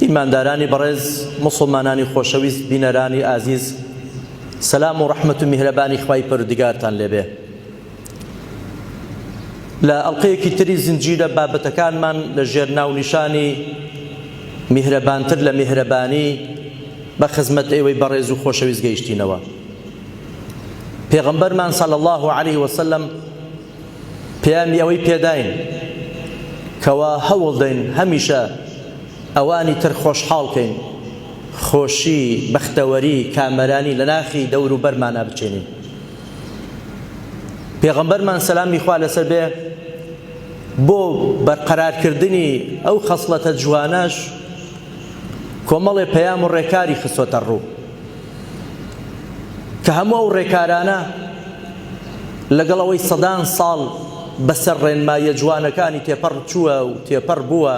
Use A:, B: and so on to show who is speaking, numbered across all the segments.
A: ئیماندارانی بەڕێز مسلمانانی خۆشەویست بینەرانی ئازیز سەسلام و ڕەحمت و میهرەبانی خی پەرودگارتان لێبێ لە ئەڵلقەیەکی تری زنجیرە بابەتەکانمان لە ژێر ناونیشانی میهرەبانتر لە میهرەبانی بە خزمەت ئێوەی بەڕێز و خۆشەویست گەیشتینەوە پێغمبەرمان سەل الله عليه وسلم پەیامی ئەوەی پێداین کەوا هەوڵدەین هەمیشە ئەوانی تر خۆشحاڵ کەین، خۆشی، بەختەوەری، کامەرانی لە ناخی دەوروبەرمانا بچێنین. پێغەمبەرمان سەلامی خوا لەسەر بێ بۆ بەرقەرارکردنی ئەو خەسڵەتە جوانەش کۆمەڵێ پەیام و ڕێکاری خستۆتە ڕوو. کە هەموو ئەو ڕێکارانە لەگەڵ ئەوەی سەدان ساڵ بەسەر ڕێنماییە جوانەکانی تێپەڕ چووە و تێپەڕ بووە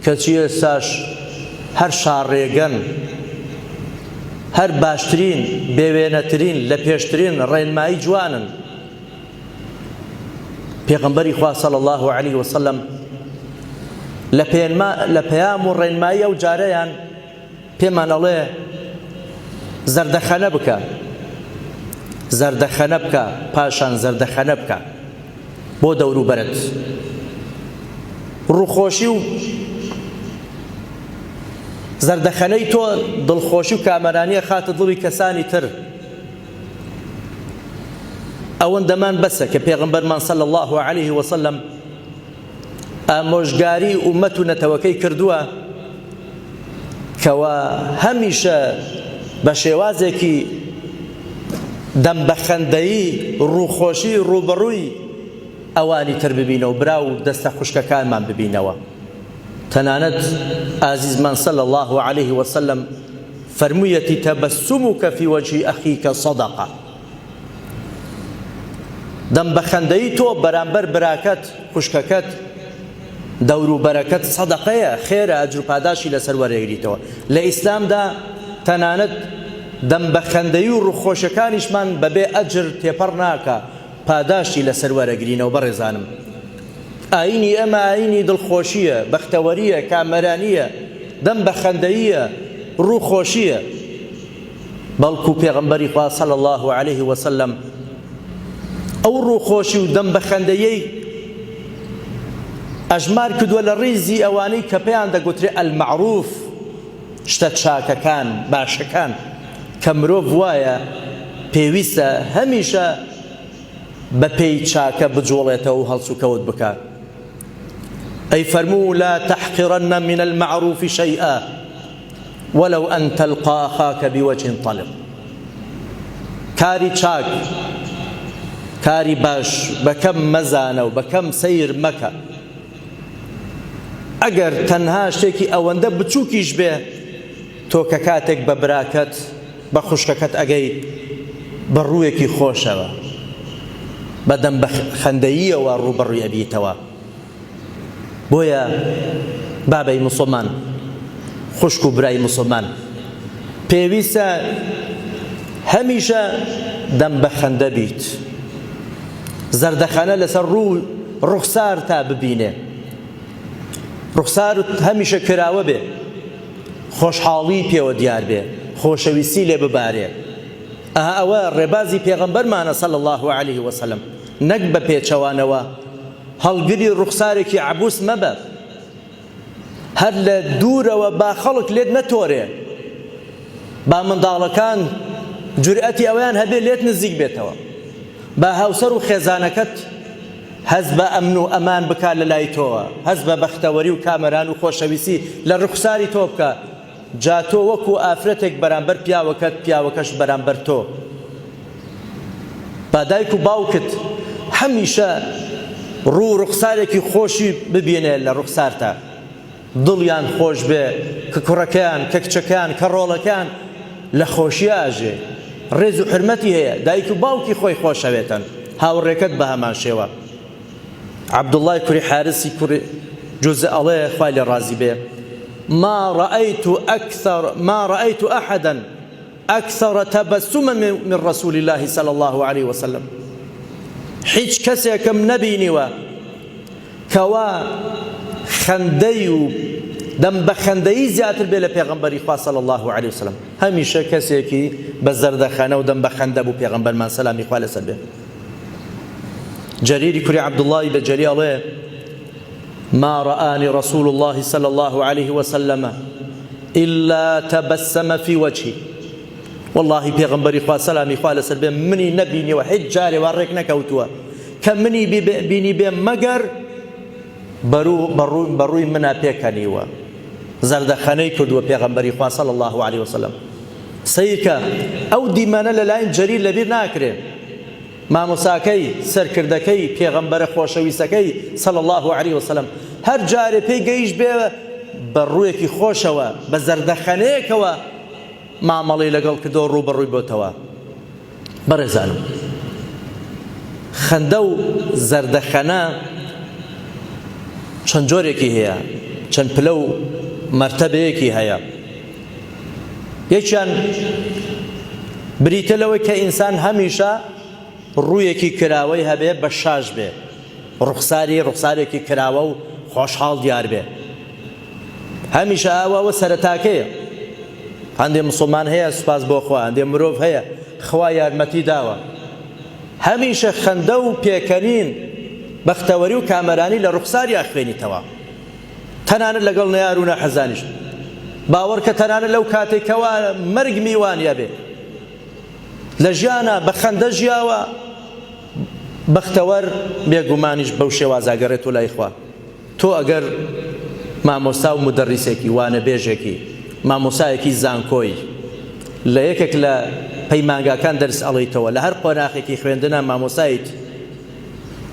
A: کەچی ئێستاش هەر شاڕێگەن هەر باشترین بێوێنەترین لە پێشترین ڕێنمایی جوانن پێغمبەری خوا صلی الله علیه وسلم لە پێیان و ڕێنمایی ئەو جارەیان پێمان ئەڵێ زەردەخەنە بکە زەردەخەنە بکە پاشان زەردەخەنە بکە بۆ دەوروبەرت ڕوخۆشی و زەردەخەنەی تۆ دڵخۆشی و کامەرانیە خاتە دڵی کەسانی تر ئەوەندەمان بەسە کە پێغمبەرمان سەل الله عليه وسلم ئامۆژگاری ئومەت و نەتەوەکەی کردووە کەوا هەمیشە بە شێوازێکی دەم بە خەندەیی ڕووخۆشی ڕووبەڕووی ئەوانی تر ببینەوە برا و دەستە خوشکەکانمان ببینەوە تەنانەت ئازیزمان صلی الله عليه وسلم فەرموویەتی تەبەسموکە فی وەجهی ئەخیکە صەدەقە دەم بە خەندەیی تۆ بەرامبەر براکەت خوشکەکەت دەورو بەرەکەت سەدەقەیە خێرە ئەجر پاداشی لەسەر وەرێگریتەوە لە ئیسلامدا تەنانەت دەم بە خەندەی و ڕوخۆشەکانیشمان بەبێ ئەجر تێپەڕ ناکە پاداشتی لەسەر وەرەگرینەوە بەڕێزانم ئاینی ئەمە ئاینی دڵخۆشیە بەختەوەریە کامەرانیە دەم بە خەندەیە ڕووخۆشیە بەڵکو پێغەمبەری خوا صلی اللە علیه وسلم ئەو ڕووخۆشی و دەم بەخەندەیەی ئەژمار کردووە لە ڕیزی ئەوانەی کە پێیان دەگوترێ المعروف شتە چاکەکان باشەکان کە مرۆڤ وایە پێویستە هەمیشە بە پێی چاکە بجوڵێتەوە و هەڵسوکەوت بکات ئەی فەرموو لا تحقرن من المعروف شيئا ولو ان تلقا اخاک بوجه طلق کاری چاک کاری باش بە کەم مەزانە و بە کەم سەیر مەکە ئەگەر تەنها شتێکی ئەوەندە بچووکیش بێ تۆ کە کاتێک بە براکەت بە خوشکەکەت ئەگەی بە ڕوویەکی خۆشەوە بەدەم بە خەندەییەوە ڕووبەڕوی ئەبیتەوە بۆیە بابەی مسلمان خوشک و برای مسلمان پێویستە هەمیشە دەم بە خەندە بیت زەردەخەنە لەسەر ڕوو ڕوخسار تا ببینێ ڕوخسار هەمیشە کراوە بێ خۆشحاڵی پێوە دیار بێ خۆشەویستی لێ ببارێ ئەها ئەوە ڕێبازی پێغەمبەرمانە سەل الله عليه وسلم نەک بە پێچەوانەوە هەڵگری ڕوخسارێکی عەبوس مەبە هەر لە دوورەوە با خەڵک لێت نەتۆرێ با منداڵەکان جورئەتی ئەویان هەبێ لێت نزیک بێتەوە با هاوسەر و خێزانەکەت هەز بە ئەمن و ئەمان بکات لە لای تۆوە هەز بە بەختەوەری و کامەران و خۆشەویستی لە ڕوخساری تۆ بکە جا تۆ وەکو ئافرەتێک بەرامبەر پیاوەکەت پیاوەکەش بەرامبەر تۆ با دایک و باوکت هەمیشە ڕوو ڕوخسارێکی خۆشی ببینێ لە ڕوخسارتە دڵیان خۆش بێ کە کوڕەکەیان کە کچەکەیان کە ڕۆڵەکەیان لە خۆشی ئاژێ ڕێز و حرمەتی هەیە دایک و باوکی خۆی خۆشەوێتن هاوڕێکەت بە هەمان شێوە عەبدوڵڵای کوری حارسی کوری جوزە ئەڵێ خوای لێ ڕازی بێ ما رأيت أكثر ما رأيت أحدا أكثر تبسما من رسول الله صلى الله عليه وسلم هیچ کەسێکم نەبینیوە کەوا خەندەی و دەم بە خەندەی زیاتر بێ لە پێغمبەری خوا صلی الله عليه وسلم هەمیشە کەسێکی بە زەردەخەنە و دەم بە خەندە بوو پێغمبەرمان سەلامی خوا لەسەر بێ جەریری کوری عەبدوڵڵای بەجەلی ئەڵێ ما رآنی رسول الله صلى الله عليه وسلم إلا تبسم في وجهي والله پێغمبەری خوا سەلامی خوا لەسەر بێ منی نەبینیەوە هیچ جارێ وا ڕێک نەکەوتووە کە منی بینی بێ مەگەر بە ڕووی منا پێکەنیوە زەردەخەنەی کردووە پێغەمبەری خوا صلی اللە علیە وسلم سەیرکە ئەو دیمەنە لەلاین جەریر لەبیر ناکرێ مامۆساکەی سەرکردەکەی پێغەمبەرە خۆشەویستەکەی صلی اللە علیه وسلم هەر جارێ پێی گەیش بێ بە ڕوویەکی خۆشەوە بە زەردەخەنەیەکەوە مامەڵی لەگەڵ کردەوە ڕووبەڕووی بۆتەوە بەڕێزانم خەندە و زەردەخەنە چەند جۆرێکی هەیە چەند پلە و مەرتەبەیەکی هەیە یەکیان بریتە لەوەی کە ئینسان هەمیشە ڕوویەکی کراوەی هەبێ بە شاش بێ ڕوخساری ڕوخسارێکی کراوە و خۆشحاڵ دیار بێ هەمیشە ئەوە ئەوە سەرەتاکەیە هەندێ مسلمان هەیە سوپاس بۆ خوا هەندێ مرۆڤ هەیە خوا یارمەتی داوە هەمیشە خەندە و پێکەنین بەختەوەری و کامەرانی لە ڕوخساری ئەخوێنیتەوە تەنانەت لەگەڵ نەیار و نەحەزانیش باوەڕ کە تەنانەت لەو کاتێکەوە مەرگ میوانە بێ لە ژیانە بە خەندە ژیاوە بەختەوەر بێگومانیش بەو شێوازە ئەگەڕێتۆ لای خوا. تۆ ئەگەر مامۆستا و مودەڕیسێکی، وانەبێژێکی، مامۆسایەکی زانکۆی، لە یەکێک لە پەیمانگاکان دەرس ئەڵێیتەوە، لە هەر قۆناخێکی خوێندنا مامۆستایت،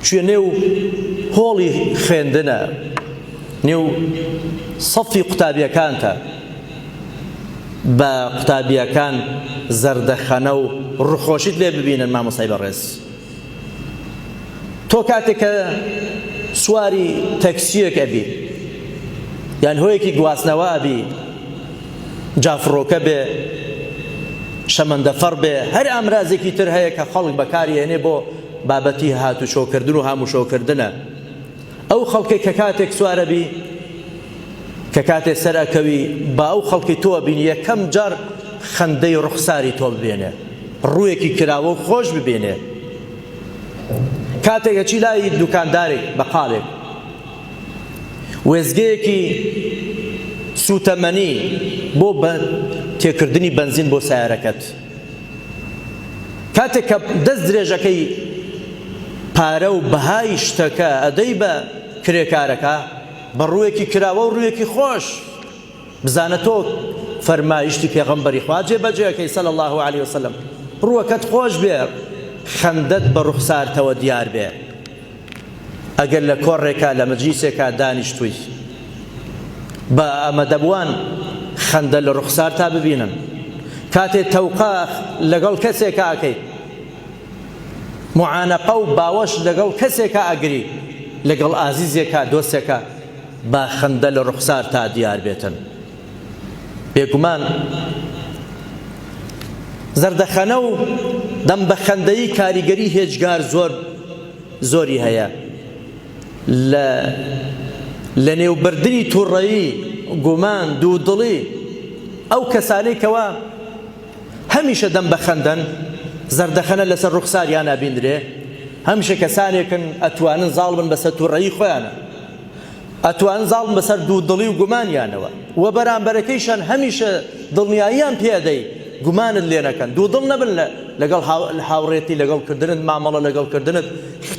A: چوویە نێو هۆڵی خوێندنا، نێو سەفی قوتابیەکانتا، بە قوتابیەکان زەردەخەنە و ڕوخۆشیت لێ ببینن مامۆستای بەڕێز تۆ کاتێک کە سواری تەکسیەک ئەبی یان هۆیەکی گواستنەوە ئەبی جافڕۆکە بێ شەمەندەفەڕ بێ هەر ئامرازێکی تر هەیە کە خەڵک بەکاری هێنێ بۆ بابەتی هاتوچۆکردن و هاموشۆکردنە ئەو خەڵکەی کە کاتێک سوار ئەبی کە کاتێ سەر ئەکەوی با ئەو خەڵکی تۆ بینی یەکەم جار خەندەی ڕوخساری تۆ ببێنێ ڕوویەکی کراوە و خۆش ببێنێ کاتێکە چی لای دوکاندارێک بەقالێک وێزگەیەکی سوتەمەنی بۆ بە تێکردنی بنزین بۆ سیارەکەت کاتێک کە دەست درێژەکەی پارە و بەهای شتەکە ئەدەی بە کرێکارەکە بە ڕوویەکی کراوە و ڕوویەکی خۆش بزانە تۆ فەرمایشتی پێغەمبەری خوا جێبەجێەکەی سەل الله عليه وسلم ڕووەکەت خۆش بێ خەندەت بە ڕوخسارتەوە دیار بێ ئەگەر لە کۆڕێکا لە مەجلیسێکا دانیشتووی بە ئامەدەبووان خەندە لە ڕوخسار تا ببینن کاتێ تەوقا لەگەڵ کەسێکا ئەکەی معانەقە و باوەش لەگەڵ کەسێکا ئەگری لەگەڵ ئازیزێکا دۆستێکە با خەندە لە ڕوخسار تا دیار بێتن بێگومان زەردەخەنە و دەم بە خەندەیی کاریگەری هێجگار زۆر زۆری هەیە لە لە نێوبردنی توڕەیی گومان دوودڵی ئەو کەسانەی کەوا هەمیشە دەم بە خەندەن زەردەخەنە لەسەر ڕوخساریان نابیندرێ هەمیشە کەسانێکن ئەتوانن زاڵ بن بەسە توڕەیی خۆیانە ئەتوان زاڵن بەسەر دوو دڵی و گومانیانەوە وە بەرامبەرەکەیشان هەمیشە دڵنیاییان پێ ئەدەی گومانت لێ نەکەن دوو دڵ نەبن لە لەگەڵ هاوڕێتی لەگەڵ کردنت مامەڵە لەگەڵ کردنت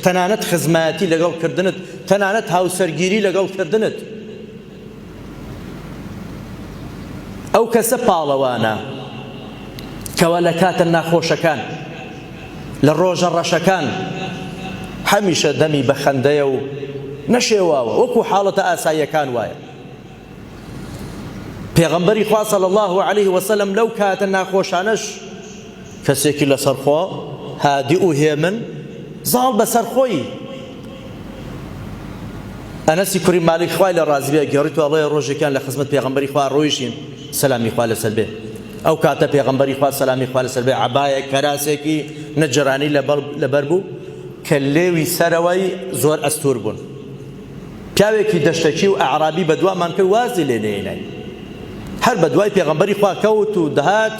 A: تەنانەت خزمایەتی لەگەڵ کردنت تەنانەت هاوسەرگیری لەگەڵ کردنت ئەو کەسە پاڵەوانە کەوا لە کاتە ناخۆشەکان لە ڕۆژە ڕەشەکان هەمیشە دەمی بە خەندەیە و نەشێواوە وەکو حاڵەتە ئاساییەکان وایە. پێغەمبەری خوا صلی الله علیه و سلم لەو کاتە ناخۆشانەش کەسێکی لەسەر خۆ هادی و هێمن زاڵ بەسەر خۆی ئەنەسی کوری مالیک خوای لە ڕازبێ گەڕیت و ئەڵێ ڕۆژێکیان لە خزمەت پێغەمبەری خوا ڕۆیشین سەلامی خوا لەسەر بێ ئەو کاتە پێغەمبەری خوا سەلامی خوا لەسەر بێ عەبایە کەراسێکی نەجرانی لەبەر بوو کە لێوی سەرەوەی زۆر ئەستور بوون پیاوێکی دەشتەکی و ئەعرابی بە دوامان کرد وازی لێ نێنای هەر بە دوای پێغەمبەری خوا کەوت و دەهات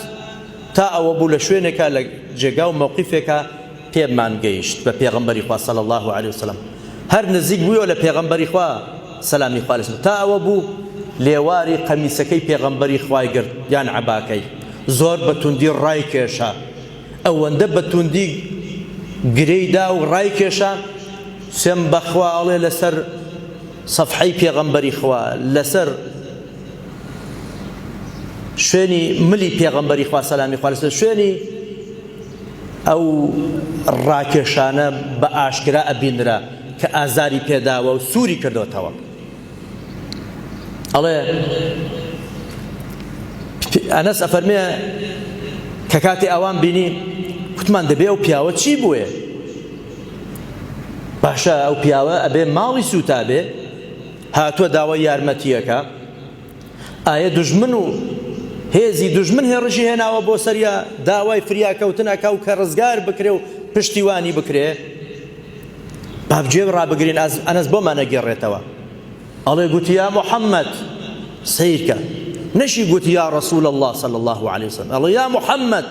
A: تا ئەوە بوو لە شوێنێکە لە جێگا و مەوقیفێکە پێمان گەیشت بە پێغەمبەری خوا صلی اللە علیە وسلم هەر نزیک بویەوە لە پێغەمبەری خوا سەلامی خوا لەسەر تا ئەوە بوو لێواری قەمیسەکەی پێغەمبەری خوای گرت یان عەباکەی زۆر بە توندی ڕای کێشا ئەوەندە بە توندی گرێی دا و ڕای کێشا سم بەخوا ئەڵێ لەسەر سەفحەی پێغەمبەری خوا لەسەر شوێنی ملی پێغەمبەری خوا سەلامی خوا لەسەر شوێنی ئەو ڕاکێشانە بە ئاشکرا ئەبینرا کە ئازاری پێداوە و سووری کردۆتەوە. ئەڵێ ئەنەس ئەفەرمێ کە کاتی ئەوان بینی کوتمان دەبێ ئەو پیاوە چی بووێ باشە ئەو پیاوە ئەبێ ماڵی سووتابێ هاتووە داوای یارمەتیەکە ئایە دوژمن و هێزی دوژمن هێڕشی هێناوە بۆ سەریا داوای فریاکەوتن ئەکا و کە ڕزگار بکرێ و پشتیوانی بکرێ بابجێ ڕابگرین ئەنەس بۆمان نەگێڕێتەوە ئەڵێ گوتی یا محەممەد سیرکە نەشی گوتی یا ڕسول الله صلی الله عليه وسلم ئەڵێ یا محەممەد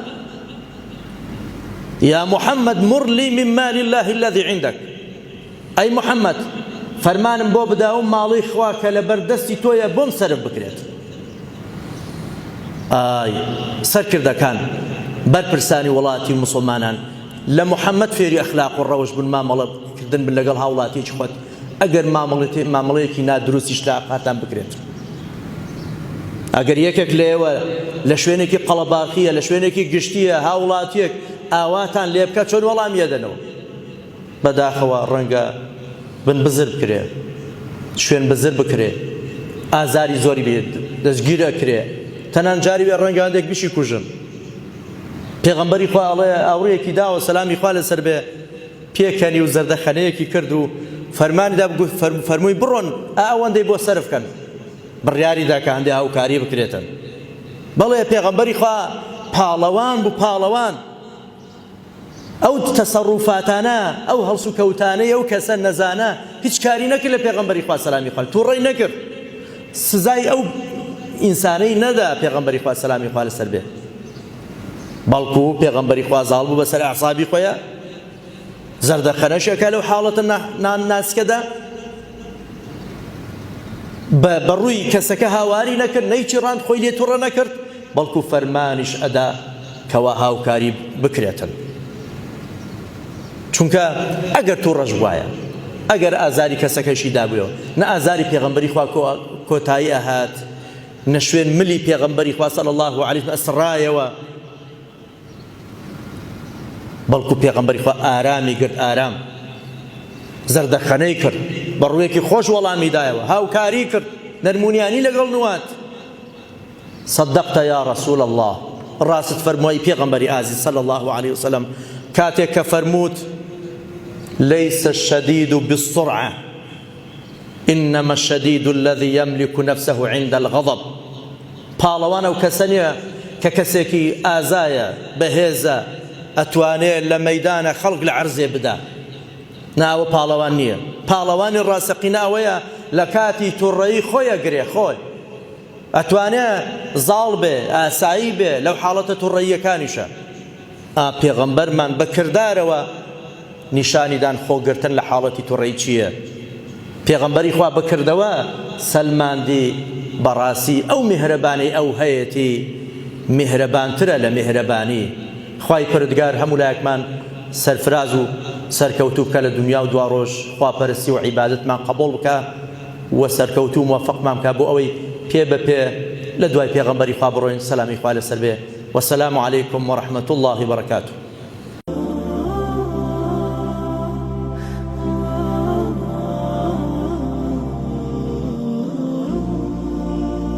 A: یا محەممەد مڕلی من مال الله الذي عندك ئەی محەمەد، فەرمانم بۆ بدە ئەو ماڵەی خوا کە لەبەر دەستی تۆیە بۆم سەرف بکرێت. ئای سەرکردەکان، بەرپرسانی وڵاتی و موسڵمانان، لە محەمەد فێری ئەخلاق و ڕەوش بن، مامەڵە کردن بن لەگەڵ هاوڵاتیەکی خۆت، ئەگەر مامەڵەیەکی نادروستیش لە ئاقاتان بکرێت. ئەگەر یەکێک لێوە لە شوێنێکی قەڵەباخیە، لە شوێنێکی گشتیە، هاوڵاتیەک ئاواتان لێبکە چۆن وەڵامی ئەدەنەوە؟ بەداخەوە ڕەنگە بن بزر بکرێ شوێن بزر بکرێ ئازاری زۆری بێت دەستگیر ئەکرێ تەنان جاری وێ ڕەنگە هەندێک بشی کوژن پێغەمبەری خوا ئەڵێ ئاوڕێکی داوە سەلامی خوا لەسەر بێ پێکەنی و زەردەخەنەیەکی کرد و فەرماندا فەرمووی بڕۆن ئەوەندەی بۆ سەرف کەن بڕیاری دا کە هەندێک هاوکاری بکرێتن بەڵێ پێغەمبەری خوا پاڵەوان بوو پاڵەوان ئەو تەسەڕوفاتانە ئەو هەڵسوکەوتانەی ئەو کەسە نەزانە هیچ کاری نەکرد لە پێغەمبەری خوا سەلامی خوارد توڕەی نەکرد سزای ئەو ئینسانەی نەدا پێغەمبەری خوا سەلامی خوا لەسەر بێت بەڵکو پێغەمبەری خوا زاڵ بوو بەسەر عصابی خۆیە زەردەخەنەشەکە لەو حاڵەتە نان ناسکەدا بە بەڕووی کەسەکە هاواری نەکرد نەیچی ڕاند خۆی لێ توڕە نەکرد بەڵکو فەرمانیش ئەدا کەوا هاوکاری بکرێتن چونکە ئەگەر توڕەش بوایە ئەگەر ئازاری کەسەکەشی دابووە نە ئازاری پێغمبەری خوا کۆتایی ئەهات نەشوێن ملی پێغمبەری خوا صلی الله علیه ئەسڕایەوە بەڵکو پێغمبەری خوا ئارامی گرت ئارام زەردەخەنەی کرد بە ڕوویەکی خۆش وەڵامی دایەوە هاوکاری کرد نەرمونیانی لەگەڵ نوات صدقت یا رسول اللە، ڕاستت فەرمووە ئی پێغەمبەری ئازیز صلی اللە علیە وسلم، کاتێک کە فەرمووت، لیس الشدید بالسرعە، انما الشدید الذی یملک نفسه عند الغضب، پاڵەوان ئەو کەسە نیە کە کەسێکی ئازایە، بەهێزە، ئەتوانێ لە مەیدانە خەڵک لە عەرزێ بدا، نا ئەوە پاڵەوان نیە، پاڵەوانی ڕاستەقینە ئەوەیە لە کاتی توڕەیی خۆی ئەگرێ، خۆی. ئەتوانێ زاڵ بێ ئاسایی بێ لەو حاڵەتە توڕەییەکانیشە ئا پێغەمبەرمان بە کردارەوە نیشانی دان خۆگرتن لە حاڵەتی توڕەی چییە پێغەمبەری خوا بەکردەوە سەلماندی بەڕاستی ئەو میهرەبانەی ئەو هەیەتی میهرەبانترە لە میهرەبانی خوای پردگار هەموو لایەکمان سەرفراز و سەرکەوتوو بکە لە دنیا و دواڕۆژ خواپەرستی و عیبادەتمان قەبوڵ بکە وە سەرکەوتوو موفقمان بکات بۆ ئەوەی پێ بە پێ لە دوای پێغەمبەری خوا بڕۆین سەلامی خوا لەسەر بێ وسلام علیکم ورحمە اللە وبرکاته.